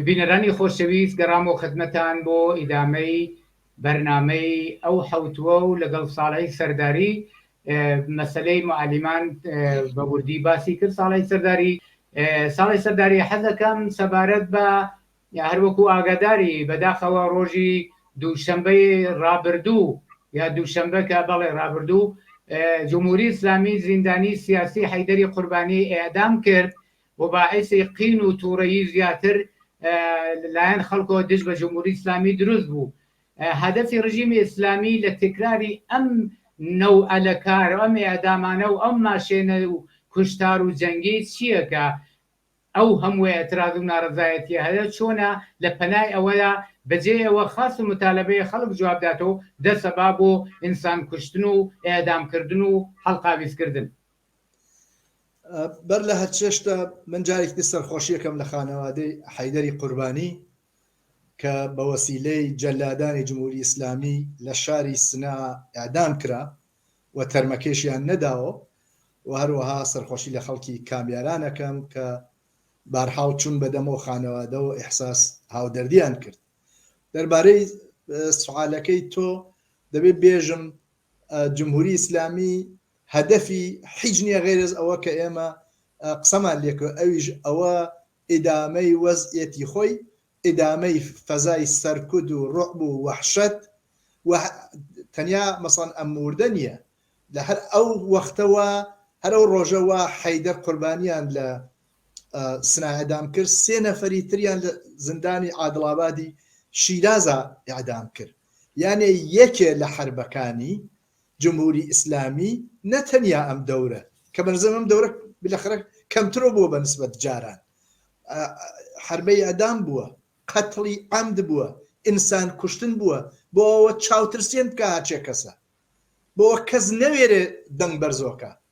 بینەرانی خۆشەویست گەڕامۆ خدمەتان بۆ ئیدامەی بەرنامەی ئەو حەوتووە و لەگەڵ ساڵحی سەرداری مەسلەی معلیمان بە وردی باسی کرد ساڵی سەرداری ساڵی سەرداری حەزەکەم سەبارەت بە هەروەکو ئاگاداری بەداخەوە ڕۆژی دووشەمبەی ڕابردوو یا دووشەمبە کە بەڵێ ڕابردوو جمهوری ئسلامی زیندانی سیاسی حیدەری قوربانی ئێدام کرد و باعیسی قین و توڕەیی زیاتر لە لایەن خەڵکەوە دژ بە جمهوری ئیسلامی دروست بوو. هەدەفی ڕژیمی ئیسلامی لە تکراری ئەم نەوعە لە کار و ئەم ئێعدامانە و ئەم ماشێنە و کوشتار و جەنگی چییە کە ئەو هەموو ئێعتراز و ناڕەزایەتییە هەیە چۆنە لە پەنای ئەوەدا بە جێی ئەوە خواست و متالەبەی خەڵک جواب داتەوە دەسە با بۆ ئینسان کوشتن و ئێعدام کردن و حەڵقاویز کردن بەر لە هەرچێ شتە من جارێکی تر سەرخۆشییەکەم لە خانەوادەی حەیدەری قوربانی کە بە وەسیلەی جەلادانی جمهوری ئیسلامی لە شاری سنە ئیعدام کرا و تەرمەکەیشیان نەداوە و هەروەها سەرخۆشی لە خەڵکی کامیارانەکەم کە بارحاڵ چوون بەدەمەوە خانەوادەوە ئیحساس هاودەردیان کرد دەربارەی سوالەکەی تۆ دەبێت بێژم جمهوری ئیسلامی هەدەفی حیج نیە غەیر از ئەوە کە ئێمە قسەمان لێکرد ئەویش ئەوە ئیدامەی وەزئیەتی خۆی ئیدامەی فەزای سەرکوت و ڕعب و وەحشەت و تەنیا مەسەن ئەم موردە نیە لە هەر ئەو وەختەوە هەر ئەو ڕۆژەوە حەیدەر قوربانیان لە سناعدام کرد سێ نەفەری تریان لە زندانی عادڵابادی شیرازا ئعدام کرد یانێ یەکێ لە حربەکانی جمهوری ئیسلامی نەتەنیا ئەم دەورە کە بەرزم ئەم دەورە بلەخرە کەمترۆ بووە بە نسبەت جاران حربەی ئەدام بووە قەتڵی ئەمد بووە ئینسان کوشتن بووە بۆ ئەوە چاوترسێن بکە هاچێ کەسە بۆ کەس نەوێرێ دەنگ بەرزۆکە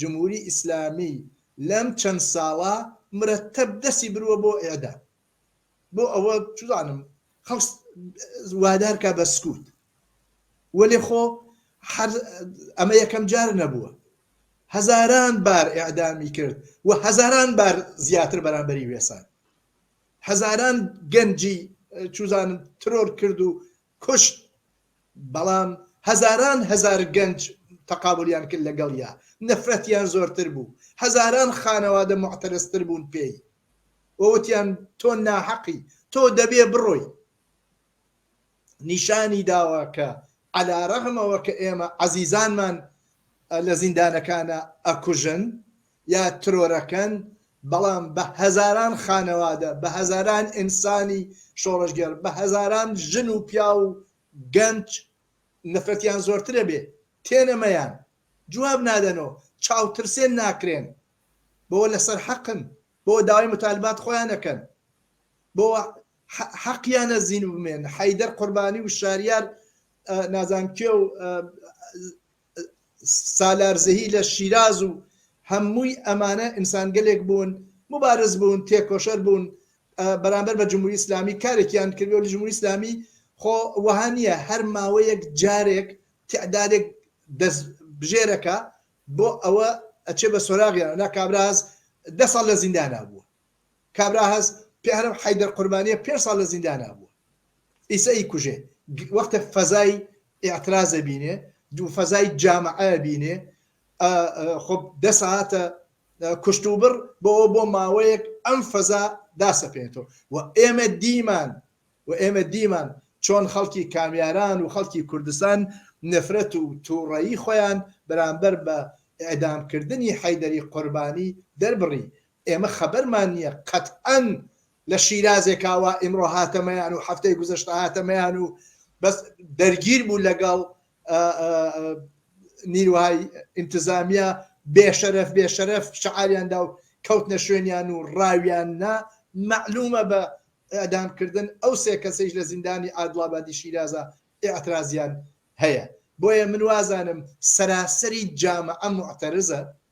جمهوری ئیسلامی لەم چەند ساڵە مرەتەب دەستی بروە بۆ ئیعدام بۆ ئەوە چزانم خەڵک وادار کا بە سکوت وەلێ خۆ هەر ئەمە یەکەم جار نەبووە هەزاران بار ئیعدامی کرد و هەزاران بار زیاتر بەرامبەری وێسان هەزاران گەنجی چزانم ترۆر کرد و کوشت بەڵام هەزاران هەزار گەنج تەقابولیان کرد لەگەڵیا نەفرەتیان زۆرتر بوو هەزاران خانەوادە موعتەرزتر بوون پێی و وتیان تۆ ناحەقی تۆ دەبێ بڕۆی نیشانی داوە کە عەلا رەغمەوە کە ئێمە عەزیزانمان لە زیندانەکانە ئەکوژن یا ترۆرەکەن بەڵام بە هەزاران خانەوادە بە هەزاران ئینسانی شۆڕشگێڕ بە هەزاران ژن و پیاو و گەنج نەفرەتیان زۆرترە بێ تێنە مەیان جواب نادەنۆ چاو ترسێن ناکرێن بۆوە لەسەر حەقن بۆوە داوای متالبات خۆیان ئەکەن بۆوە حەقیان ئەزین و بمێن حەیدەر قوربانی و شاریار نازانم کێ و سالار زهی لە شیراز و هەمووی ئەمانە ئینسانگەلێک بوون موبارز بوون تێکۆشەر بوون بەرامبەر بە جمهوری ئیسلامی کارێکیان کردو لە جمهوری ئیسلامی خۆ وەها نییە هەر ماوەیەک جارێک تعدادێک دەست بژێرەکە بۆ ئەوە ئەچێ بە سۆراغیان نا کابراز دە ساڵ لە زیندانا بووە کابرا هەز پیانم حەیدەر قوربانیە پێنج ساڵ لە زیندانا بووە ئیسە ئی کوژێ وەختە فەزای ئیعترازە بینێ دوو فەزای جامعە بینێ خۆ دە ساعتە کوشتوبڕ بۆ بۆ ماوەیەک ئەم فەزا داسەپێنێتەوە و ئێمە دیمان و ئێمە دیمان چۆن خەڵکی کامیاران و خەڵکی کوردستان نفرەت و تووڕەیی خۆیان بەرامبەر بە ئەدامکردنی حەیدەری قوربانی دەربڕی ئێمە خەبەرمان نیە قەتئەن لە شیرازێکا وا ئیمڕۆ هاتە مەیان و هەفتەی گوزەشتە هاتە مەیان و بەس دەرگیر بوو لەگەڵ نیروهای ئینتزامیە بێ شەرەف بێ شەرەف شعاریان دا و کەوتنە شوێنیان و ڕاویان نا مەعلومە بە ئەدان کردن ئەو سێ کەسەیش لە زیندانی ئادڵابادی شیرازە ئیعترازیان هەیە بۆیە من وازانم سەراسەری جامعە معتەرزە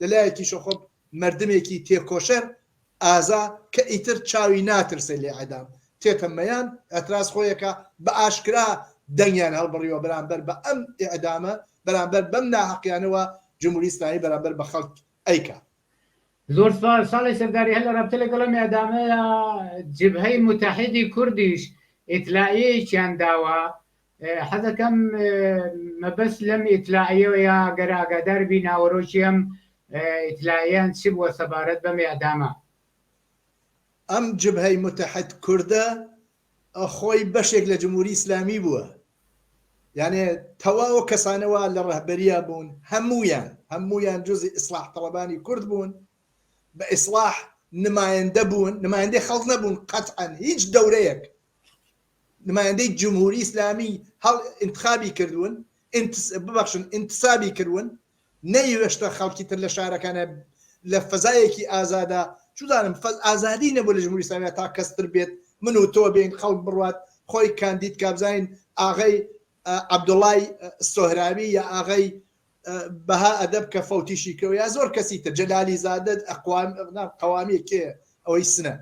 لە لایەکیشەوە خۆ مەردمێکی تێکۆشەر ئازا کە ئیتر چاوی ناترسێ لە ئیعدام تێتە مەیان ئەتراز خۆیەکە بە ئاشکرا دەنگیان هەڵبڕیوە بەرامبەر بە ئەم ئیعدامە بەرامبەر بەم ناهەقیانەوە جموری ئیسلامی بەرامبەر بە خەڵک ئەیکا. زۆر سپاس ساڵح سەرداری هەر لە رابتە لەگەڵ ئەم ئیعدامەیا جبهەی موتەحیدی کوردیش ئیتلائیەیەکیان داوە حەزەکەم مەبەست لەم ئیتلائیەوە یا گەر ئاگادار بی ناوەرۆکی ئەم ئیتلائیەن چ بووە سەبارەت بەم ئیعدامە؟ ئەم جبهەی متحد کوردە خۆی بەشێک لە جمهوری ئیسلامی بووە یانێ تەواو ئەو کەسانە وا لە ڕەهبەریا بوون هەموویان هەموویان جزی ئیسلاح تەڵەبانی کورد بوون بە ئیسلاح نمایندە بوون نمایندەی خەڵک نەبوون قەتعەن هیچ دەورەیەک نمایندەی جمهوری ئیسلامی هەڵ ئینتخابی کردوون ئینتس ببەخشن ئینتسابی کردوون نەیوێشتە خەڵکی تر لە شارەکانە لە فەزایەکی ئازادا چودانم فەز ئازادی نەبوو لە جمهوری ئیسلامی تا کەستر بێت من و تۆ بێن خەڵک بڕوات خۆی کاندید کابزین ئاغای عەبدوڵای سۆهراوی یا ئاغای بەها ئەدەب کە فەوتیشی کەەوە یا زۆر کەسی تر جەلالی زادت ئەقوام قوامی کێ ئەوەی سنە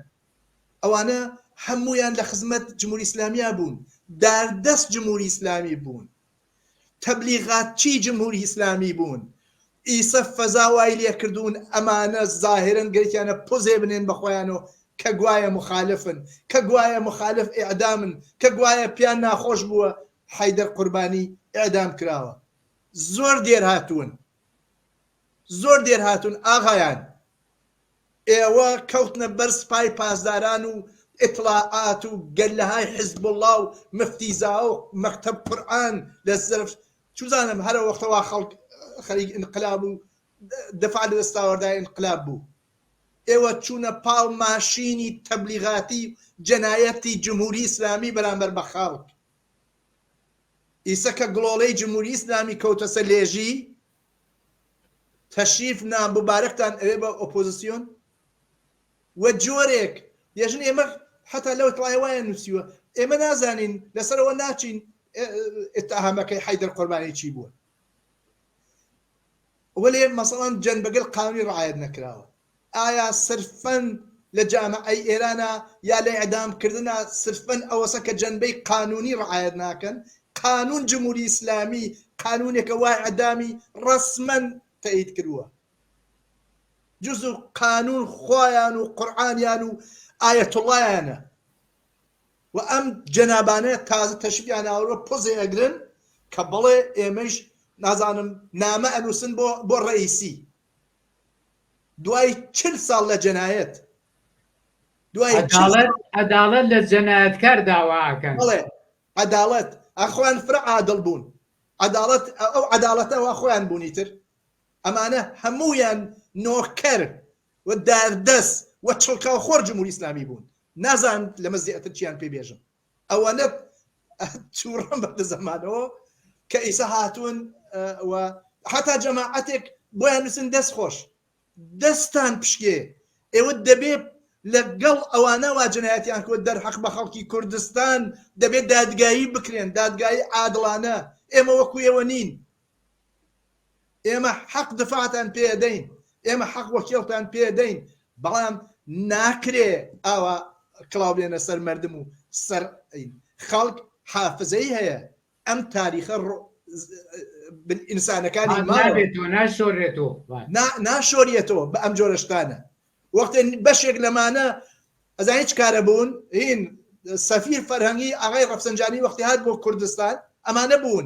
ئەوانە هەموویان لە خزمەت جموری ئیسلامیا بوون داردەست جموری ئیسلامی بوون تەبلیغاتچی جمهوری ئیسلامی بوون ئیسە فەزا وای لێکردوون ئەمانە زاهرن گەرکیانە پۆزێ بنێن بە خۆیان و کە گوایە مخالفن کە گوایە مخالف ئعدامن کە گوایە پیان ناخۆش بووە حیدەر قوربانی ئعدام کراوە زۆر دێر هاتوون زۆر دێر هاتوون ئاغایان ئێوە کەوتنە بەر سپای پاسداران و ئیتڵاعات و گەلەهای حیزبوڵا و مفتی زاوا و مەکتەب قورئان لە زرف چوزانم هەرە وەختە وا خەڵک خەریک ئینقلاب و دفع لە دەستاوەردای ئینقلاب بوو ئێوە چوونە پاڵ ماشینی تەبلیغاتی جەنایەتی جمهوری ئیسلامی بەرامبەر بە خەڵک ئیسە کە گڵۆڵەی جمهوری ئیسلامی کەوتەسە لێژی تەشریف نا موبارەکتان ئەوێ بە ئۆپۆزسیۆن و جۆرێک یەژن ئێمە حتا لەو تڵای وایە نووسیوە ئێمە نازانین لەسەرەوە ناچین ئتاهامەکەی حیدر قوربانی چی بووە وەێ مەسەڵان جەن بەگەل قاوی ڕعاەت نەکراوە ئایا سرفەن لە جامەعەی ئێرانە یا لە ئیعدام کردنە سرفەن ئەوەسە کە جەنبەی قانونی رعایەت ناکەن قانون جموری ئیسلامی قانونێکە وا ئیعدامی رەسمەن تەئید کروە جز و قانون خوایان و قورعانیان و ئایەتوڵایانە و ئەم جەنابانە تازە تەشبیان ئەوە پۆزێ ئەگرن کە بەڵێ ئێمەش نازانم نامە ئەنووسن بۆ بۆ رەئیسی دوای چل ساڵ لە جەنایەت عداڵەت لە جەنایەتکار داواکەن بڵێ عداڵەت ئەخوان فرە عادڵ بوون عداڵەت ئەو عداڵەتەوە خۆیان بوونی تر ئەمانە هەموویان نۆکەر و داردەس و چڵکاو خۆر جمهوری ئسلامی بوون نازان لەمە زیاتر چیان پێ بێژم ئەوەنە توڕەم بە بزەمانەوە کە ئیسە هاتوون و حتا جەماعەتێک بۆیان نووسن دەست خۆش دەستان پشکێ ئێوە دەبێ لەگەڵ ئەوانە وا جنایەتیان کۆ دەرحەق بە خەڵکی کوردستان دەبێت دادگایی بکرێن دادگایی عادڵانە ئێمە وەکو ئێوە نین ئێمە حەق دفاعتان پێدەین ئێمە حەق وەکێڵتان پێدەین بەڵام ناکرێ ئاوا کڵاو بێنە سەر مردم و سەر خەڵک حافزەی هەیە ئەم تاریخە ئینسانەکانی ناشۆرێتەوە ناشۆریەتەوە بە ئەم جۆرەشتانە وەختێ بەشێک لەمانە ئەزا هیچ کارە بوون هین سەفیر فەرهەنگی ئاغای ڕەفسەنجانی وەختی هاات بۆ کوردستان ئەمانە بوون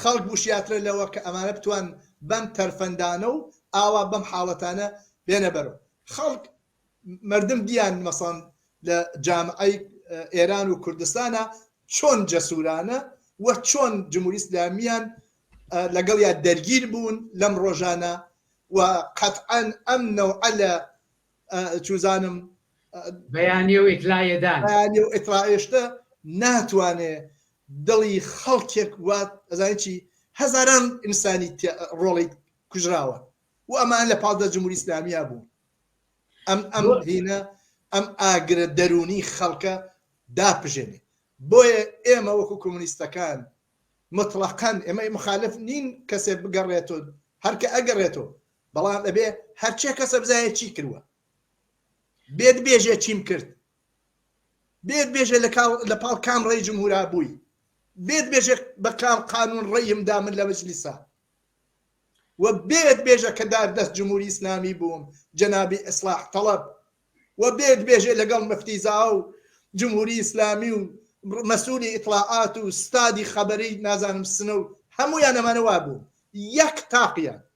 خەڵک وشیاترە لەوە کە ئەمانە بتوان بەم تەرفەندانە و ئاوا بەم حاڵەتانە بێنە بەر و خەڵک مردم دیان مەسەڵەن لە جامعەی ئێران و کوردستانە چۆن جەسورانە و چۆن جمهوری ئیسلامیان لەگەڵ یا دەرگیر بوون لەم ڕۆژانە و قەتعەن ئەم نەوعە لە چوزانم بەیانە و ئیتلایەدان بەیانە و ئیترائێشتە ناتوانێ دڵی خەڵکێک وات ئەزانی چی هەزاران ئینسانی ڕۆڵی کوژراوە و ئەمان لە پازدە جمهوری ئیسلامیا بوو ئەم ئەم هینە ئەم ئاگرە دەرونی خەڵکە داپژێنێ بۆیە ئێمە وەکو کۆمونیستەکان مطلقەن ئێمە مخالف نین کەسێ بگەڕێتون هەرکە ئەگەڕێتەوە بەڵام ئەبێ هەرچێ کەسە بزانێت چی کردوە بێت بێژێ چیم کرد بێت بێژێ لە پاڵ کام ڕێی جمهورا بووی بێت بێژێ بە کام قانون ڕێیمدا من لە مەجلیسا و بێت بێژە کە دار دەست جمهوری ئسلامی بووم جەنابی ئەسلاح تەڵب و بێت بێژێ لەگەڵ مفتیزا و جمهوری ئیسلامی و مەسوولی ئیطلاعات و ستادی خەبەری نازانم سنە و هەمویان ئەمانەوا بوو یەک تاقیان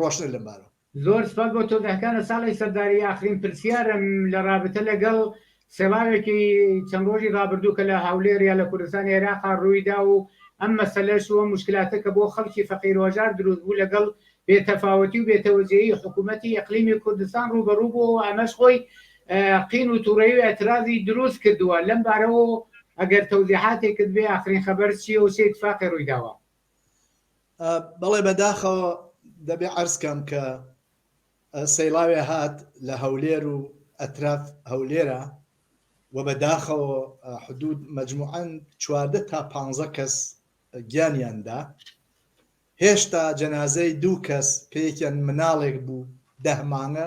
ڕۆشنە لەم بارەوە. زۆر سپاس بۆ تۆزێحکانت ساڵح سەرداری ئاخرین پرسیارم لە ڕابتە لە گەڵ سێڵاوێکی چەند ڕۆژی ڕابردوو کە لە هەولێر یا لە کوردستانی عێراقا ڕوویدا و ئەم مەسەلەش و ئەم موشکلاتە کە بۆ خەڵکی فەقیر و هەژار دروست بوو لە گەڵ بێ تەفاوەتی و بێ تەوەجێیی حکوومەتی ئیقلیمی کوردستان ڕووبەڕوو بووە و ئەمەش خۆی قین و توڕەیی و ئێترازی دروست کردووە لەم بارەوە ئەگەر تەوزێحاتێکت بێ ئاخرین خەبەر چییە و چ ئیتفاقێ ڕووی داوە؟ بەڵێ بەداخەوە دەبێ عەرزکەم کە سەیڵاوێ هات لە هەولێر و ئەتراف هەولێرە و بەداخەوە حدود مجموعەن چواردە تا پ کەس گیانیاندا هێشتا جەنازەی دوو کەس کە یەکیان مناڵێک بوو دەهمانە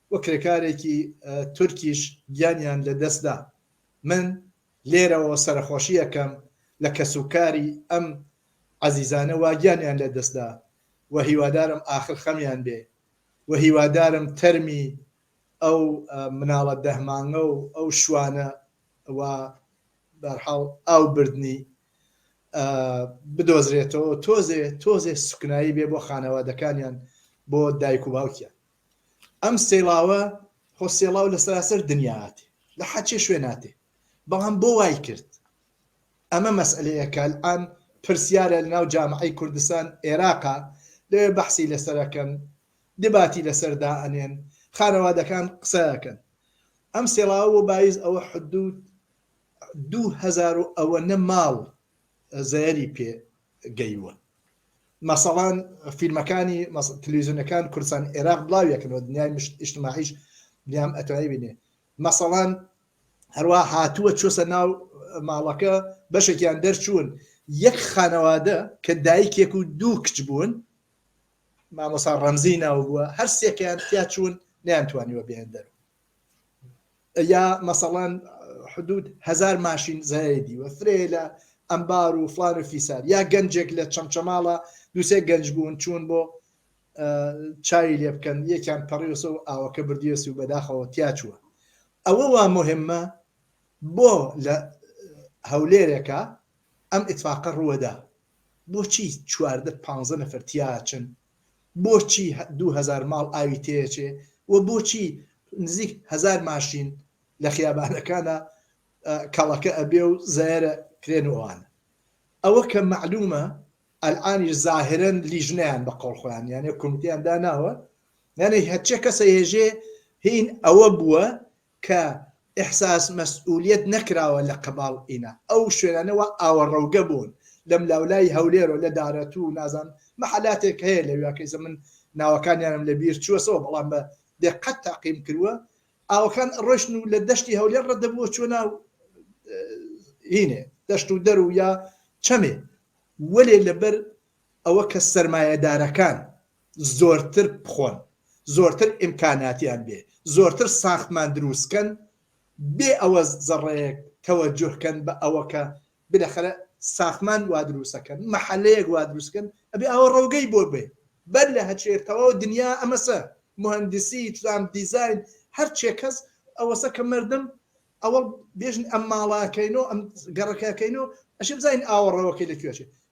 و کرێکارێکی تورکیش گیانیان لەدەستدا، من لێرەوە سەرەخۆشی ئەکەم لە کەسوکاری ئەم عەزیزانە وا گیانیان لەدەستدا و هیوادارم ئاخر خەمیان بێ و هیوادارم تەرمی ئەو مناڵە دەه مانگە و ئەو شوانە و بەرحاڵ ئاو بردنی بدۆزرێتەوە تۆزێ تۆزێ سکنایی بێ بۆ خانەوادەکانیان بۆ دایک و باوکیان ئەم سێڵاوە خۆ سێڵاو لە سەراسەر دنیا هاتێ لە حەچێ شوێن هاتێ بەڵام بۆ وای کرد ئەمە مەسئلەیەکە ئەم پرسیارە لەناو جامعی کوردستان عێراقا لەوێ بەحسی لەسەرەکەن دباتی لەسەر دائەنێن خانەوادەکان قسەکەن ئەم سێڵاوە بۆ بایز ئەوە حدود دوو هەزار و ئەوەنە ماڵ زەیەری پێ گەیوە مەسەڵان فیلمەکانی تلویزیونەکان کورسان عێراق بڵاویەکەنەوە دنیای مشت ئیشتماعیش دیام ئەتوانی بینێ مەسەڵان هەروە هاتووە چۆسە ناو ماڵەکە بەشێکیان دەرچوون یەک خانەوادە کە دایکێک و دوو کچ بوون مامۆسا ڕەمزی ناو بووە هەر سێکیان تیا چوون نیانتوانیوە بێن دەر یا مەسەڵەن حدود هزار ماشین زای دیوە فرێ لە ئەمبار و فلان و فیسار یا گەنجێک لە چەمچەماڵە دوسێ گەنج بوون چوون بۆ چاوی لێ بکەن یەکیان پەڕیوسە و ئاوەکە بردیێس و بەداخەوە تیا چووە ئەوە وا مهمە بۆ لە هەولێرێکە ئەم ئتفاقە ڕووەدا بۆچی چواردە پ نەفرتیاچن بۆچی دوو هەزار ماڵ ئاوی تێەچێ و بۆچی نزیک هەزار ماشین لە خیابانەکانا کەڵەکە ئەبێ و زەیەرە کرێن وەوانە ئەوە کە معلومە ئەلعانیش زاهرن لیژنیان بە قەڵ خۆیان یانە کمیتیان داناوە یانە هەرچێ کەسە هێژێ هین ئەوە بووە کە احساس مسئولیت نەکراوە لە قەباڵ ئینا ئەو شوێنانە وا ئاوەڕەوگە بوون لەم لاو لای هەولێر و لە دارەتوو و نازان محەلاتێک هەیە لەویا کەیسە من ناوەکانیانم لە بیر چووەسەوە بەڵام بە دقەت تاقیم کرووە ئاوەکان ئەڕۆشتن و لە دەشتی هەولێر ڕەت دەبووە چووە ناو هینێ دەشت و دەر و یا چەمێ وەلێ لەبەر ئەوە کە سەرمایەدارەکان زۆرتر بخۆن، زۆرتر ئیمکاناتیان بێ، زۆرتر ساختمان دروست کەن، بێ ئەوە زەڕەیەک تەوەجوه کەن بە ئەوە کە بلەخەرە ساختمان وا دروست ئەکەن، مەحەلەیەک وا دروست ئەکەن، ئەبێ ئەوە ڕەوگەی بۆ بێ، بەر لە هەرچێ تەواو دنیا ئەمەسە، موهەندسی، چزام دیزاین، هەرچێ کەس ئەوەسە کە مەردم ئەوە بێژن ئەم ماڵە ئەکەین و ئەم گەڕەکە ئەکەین و ئەشێ بزانین ئاوەڕۆکەی لە کوێ ئەچێ.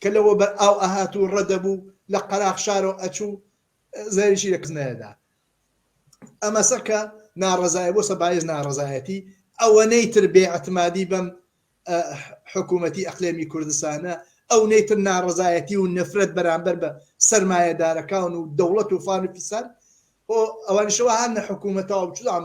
کە لە وەبەر ئاو ئەهات و ڕەدەبوو لە قەراخ شارەوە ئەچوو زەریشی لە کەس نەیەدا ئەمەسە کە ناڕەزایە بۆ سەبایز ناڕەزایەتی ئەوەنەی تر بێ ئەتمادی بەم حکوومەتی ئەقلێمی کوردستانە ئەو نەیتر ناڕەزایەتی و نەفرەت بەرامبەر بە سەرمایەدارەکان و دەوڵەت و فان و فیسار ئەوانشەوە هەر نە حکوومەتەوە بچدام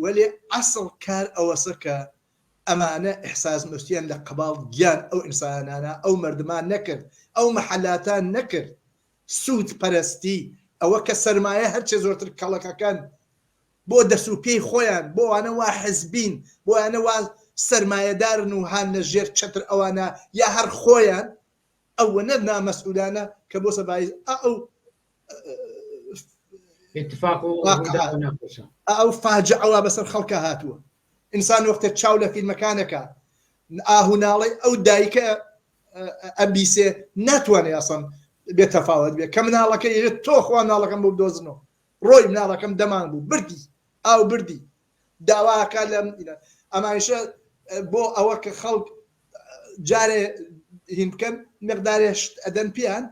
وەلێ ئەسڵ کار ئەوەسە کە ئەمانە ئیحساس مەستیان لە قەباڵ گیان ئەو ئینسانانە ئەو مەردمان نەکرد ئەو مەحەلاتان نەکرد سوود پەرەستی ئەوە کە سەرمایە هەرچێ زۆرتر کەڵەکەکەن بۆ دەست و پێی خۆیان بۆ وانە وا حزبین بۆیانە وا سەرمایەدارن و هان لە ژێر چەتر ئەوانە یا هەر خۆیان ئەوەنە نامەسئولانە کە بۆ سەبایز ئا ئەو اتفاق و ئەو فاجعە وا بەسەر خەڵکە هاتووە ئینسان وەختە چاو لە فیلمەکانەکە ئاهو ناڵی ئەو دایکە ئەبیسێ ناتوانێت ئەسەن بێت تەفاوت بێت کە مناڵەکە یێت تۆخوا ناڵەکەم بۆ دۆزنەوە ڕۆی مناڵەکەم دەمان بوو بردی ئاو بردی داواکە لەم ئەمانشە بۆ ئەوە کە خەڵک جارێ هین بکەن مقدارێشت ئەدەن پیان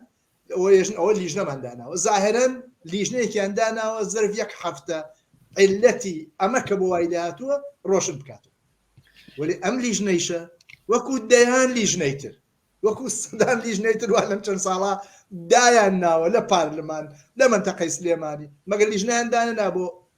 ئەوەژن ئەوە لیژنەمان داناوە زاهرن لیژنێکیان داناوە زەرف یەک هەفتە علەتی ئەمە کە بۆ وای داهاتووە ڕۆشن بکات وەلی ئەم لیژنەیشە وەکو دەیان لیژنەی تر وەکو سەدان لیژنەی تر وان لەم چەند ساڵە دایان ناوە لە پارلمان لە منتەقەی سلێمانی مەگە لیژنیان دانەنا بۆ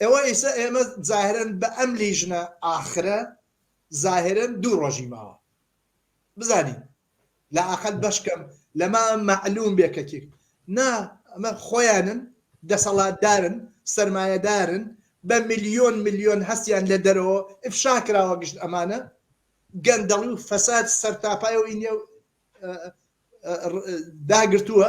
ئەوە ئیسە ئێمە زاهرەن بە ئەم لیژنە ئاخرە زاهرەن دوو ڕۆژی ماوە بزانین لە ئاقل بەشکەم لەما مەعلوم بێکەکیک نا ئەمە خۆیانن دەسەڵاتدارن سرمایهدارن بە ملیۆن ملیۆن هەستیان لە دەرەوە ئفشا کراوە گشت ئەمانە گەندەڵی و فەساد سەرتاپای و ئینە داگرتووە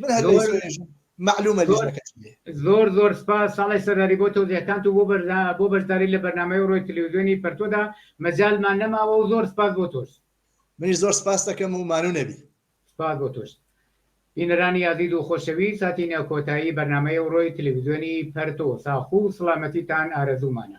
من هەر زۆر- لەیسۆ ئێژم مەعلومە زۆر. لیژنەکە چی بێ. زۆر زۆر سپاس ساڵح سەرداری بۆ تەوزیحەکانت و بۆ بەردا بۆ بەشداری لە بەرنامەی ئەوڕۆی تەلەویزیۆنی پەرتۆدا مەجالمان نەماوە و زۆر سپاس بۆ تۆش. منیش زۆر سپاست دەکەم و مانوو نەبی. سپاس بۆ تۆش. بینەرانی ئازیز و خۆشەویست هاتینە کۆتایی بەرنامەی ئەوڕۆی تەلەویزیۆنی پەرتۆ ساخو سڵامەتیتان ئارەزوومانە.